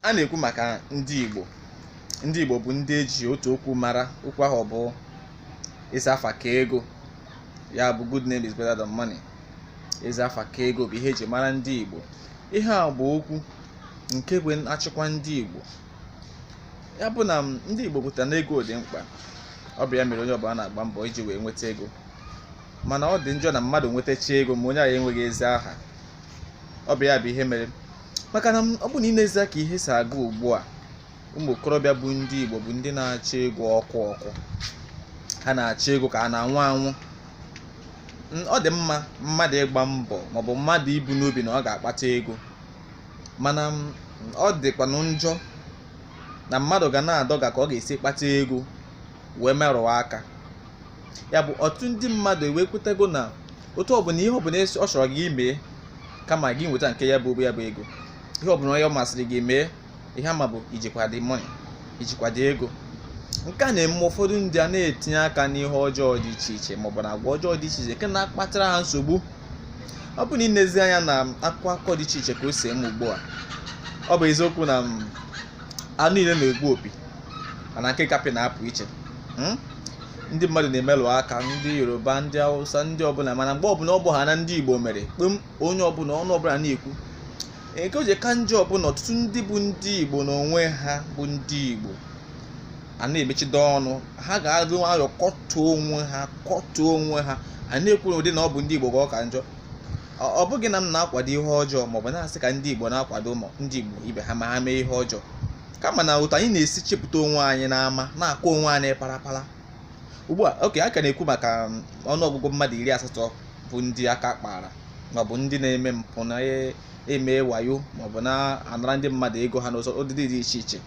a na-ekwu maka ndị Igbo ndị Igbo bụ ndị eji otu okwu mara okwu ahụ bụ ezi afa ka ego ya bụ good name is better than money ezi afa ka ego bụ ihe eji mara ndị Igbo ihe a bụ okwu nke bụ achịkwa ndị Igbo ya bụ na ndị Igbo kwetara na ego dị mkpa ọ bụ ya mere onye ọbụla na-agba mbọ iji wee nweta ego mana ọ dị njọ na mmadụ nwetacha ego ma onye ahụ enweghị ezi aha ọ bụ ya bụ ihe mere maka na ọ bụ na i nezie ka ihe si aga ugbu a ụmụ okorobịa bụ ndị Igbo bụ ndị na-achọ ego ọkụ ọkụ ha na-achọ ego ka a na-anwụ anwụ ọ dị mma mmadụ ịgba mbọ maọbụ mmadụ ibu n'obi na ọ ga-akpata ego mana ọ dịkwanụ njọ na mmadụ ga na-adọga ka ọ ga-esi kpata ego wee merụọ aka ya bụ ọtụtụ ndị mmadụ ekwetago na otu ọbụla ihe ọbụla esi- ọ chọrọ gị mee kama gị nweta nke ya bụ obe ya bụ ego ihe ọbụla onye ọ masịrị gị mee ihe ama bụ ijikwa the money ijikwa the ego nke a na-eme ụfọdụ ndị a na-etinye aka n'ihe ọjọọ dị iche iche maọbụ na agwa ọjọọ dị iche iche nke na-akpatara ha nsogbu ọ bụ na ịnezi anya na akụkọ akụkọ dị iche iche ka o si eme ugbu a ọ bụ eziokwu na mm, anụ niile na-egbu opi mana nke nkapị na-apụ iche hmm? ndị mmadụ na-emelụ aka ndị yoruba ndị hausa ndị ọbụla mana mgbe ọbụla ọ bụ ha na ndị igbo mere kpem onye ọbụla ọnụ ọbụla na-ekwu nke o ji ka njọ bụ na ọtụtụ ndị bụ ndị igbo n'onwe ha bụ ndị igbo a na-emechido ọnụ ha ga-adị nwayọọ kọtọọ onwe ha kọtọọ onwe ha a na-ekwu n'ụdị na ọ bụ ndị igbo ka ọ ka njọ ọ bụghị na m na-akwado ihe ọjọọ maọbụ na-asị ka ndị igbo na-akwado ndị igbo ibe ha ma ha mee ihe ọjọọ kama na otu anyị na-esi chepụta onwe anyị n'ama na-akọ onwe anyị parapara ugbu a okay a ka na-ekwu maka um, ọnụọgụgụ mmadụ iri asatọ bụ ndị aka kpara maọbụ ndị na-eme mpụ na e, eme wayo maọbụ na-anara ndị mmadụ ego ha n'ụzọ ụdịdị dị iche iche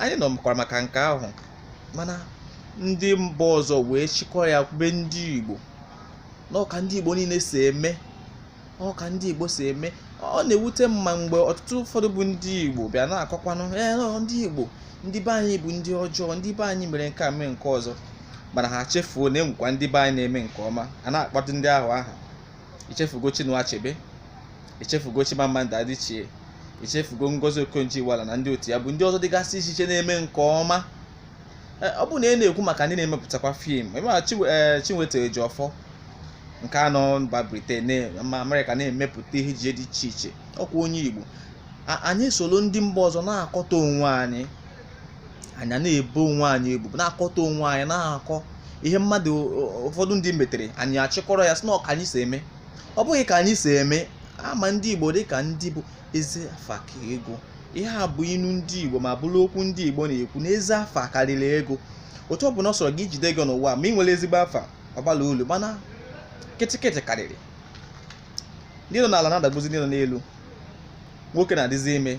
anyị nụkwara maka nke ahụ mana ndị mba ọzọ wee chịkọọ ya kwube ndị Igbo na ọ ka ndị Igbo niile si eme ọ ka ndị Igbo si eme ọ na-ewute m ma mgbe ọtụtụ ụfọdụ bụ ndị Igbo bịa na-akọkwanụ ee ndị Igbo ndị be anyị bụ ndị ọjọọ ndị be anyị mere nke a mee nke ọzọ mana ha chefuo na enwekwa ndị be anyị na-eme nke ọma a na-akpọtụ ndị ahụ aha ichefugo Chinua Achebe ichefugo Chimamanda Adichie ichefugo Ngozi Okonjo-Iweala na ndị otu ya bụ ndị ọzọ dịgasị iche iche na-eme nke ọma Eh, ọ bụ na ị na-ekwu maka ndị na-emepụtakwa fim ị ma Chiwe- eh, Chinweta Ejiofor nke a nọ mba Britain na- ma Amerịka na-emepụta ihe ejije dị iche iche ọkwa onye Igbo A- anyị soro ndị mba ọzọ na-akọtọ onwe anyị anyị na-ebo onwe anyị ebubo na-akọtọ onwe anyị na-akọ ihe mmadụ ụ- ụfọdụ ndị metere anyị achịkọrọ ya sị na ọ ka anyị si eme ọ bụghị ka anyị si eme a ma ndị Igbo dị ka ndị bụ ezi afa ka ego ihe a bụ inu ndị igbo ma bụrụ okwu ndị igbo na-ekwu na ezi afa karịrị ego otu ọ bụla ọ sọrọ gị jide ego n'ụwa ma ị nweghị ezigbo afa ọ gbala ọlụ mana kịtịkịtị karịrị ndị nọ n'ala na-adagbuzi ndị nọ n'elu nwoke na-adịzi ime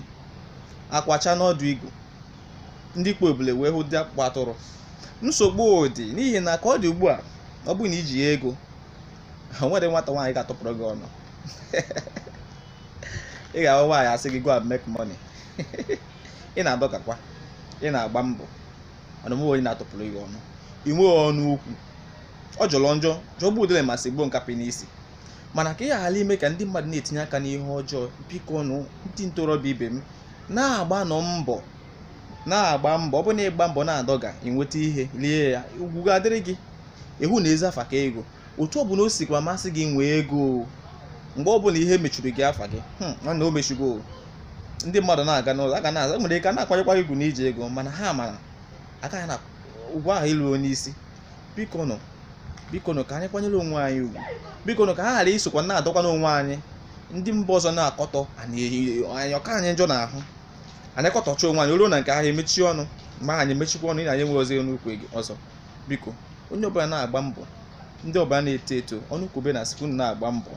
akwụ acha n'ọdụ igu ndị kpo ebule wee hụ dị akpụkpọ atụrụ nsogbu dị n'ihi na ka ọ dị ugbu a ọ bụrụ na i jighị ego o nweghị nwata nwaanyị ga-atụpụrụ gị ọnụ ị ga-ahụ nwaanyị asị gị go and make money ị na-adọgakwa ị na-agba mbọ mana onweghị onye na-atụpụrụ gị ọnụ ị nweghị ọnụ okwu ọ jọrọ njọ jọgbu udele ma sigbuo nkapị n'isi mana ka ị ghara ime ka ndị mmadụ na-etinye aka n'ihe ọjọọ biko nụ ndị ntorobịa ibe m na-agbanụ mbọ na-agba mbọ ọ bụ na ị gba mbọ na-adọga i nweta ihe lie ya ugwu ga-adịrị gị ihi na ezi afa ka ego otu ọbụla o sikwa masị gị nwee ego mgbe ọbụla ihe mechuru gị afa gị hmm, nwanne o mechugo ndị mmadụ na-aga n'ụlọ a ga na-aza nwere ike na-akwanyekwa gị ugwu na i ji ego mana ha mara agaghị na ụgwọ ahụ ịlụ onye isi biko nụ biko nụ ka anyị kwanyere onwe anyị ugwu biko nụ ka ha ghara isokwa na-adọkwa n'onwe anyị ndị mba ọzọ na-akọtọ anyị ọ ka anyị njọ n'ahụ anyị kọtọcha onwe anyị ruo na nke ahụ emechie ọnụ ma anyị emechikwa ọnụ ị na anyị enwezi ọnụ okwu ọzọ biko onye ọbụla na-agba mbọ ndị ọbụla na-eto eto ọnụkwube na-asị unu na-agba mbọ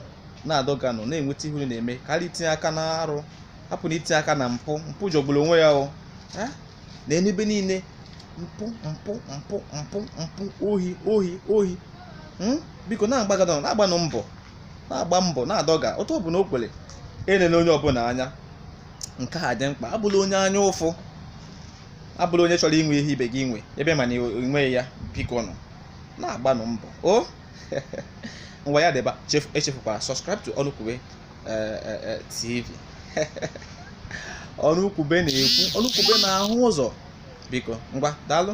na-adọganụ na-enweta ihe unu na-eme karịa itinye aka na arụ hapụnụ itinye aka na mpụ mpụ jọgburu onwe ya o Eh? na n'ebe niile mpụ mpụ mpụ mpụ mpụ ohi ohi ohi Hmm? biko na-agbagadọ na-agbanụ mbọ na-agba mbọ na-adọga otu ọ bụla o kwere elele onye ọbụla anya nke a dị mkpa abụla onye anya ụfụ abụla onye chọrọ inwe ihe ibe gị nwe ebe ị ma na i nweghị ya biko nụ na-agbanụ mbọ o ngwa ya dịba echefukwala subscribe to ọnụkwube eh, eh, eh, tv ọnụkwube na-ekwu ọnụkwube na-ahụ ụzọ biko ngwa daalụ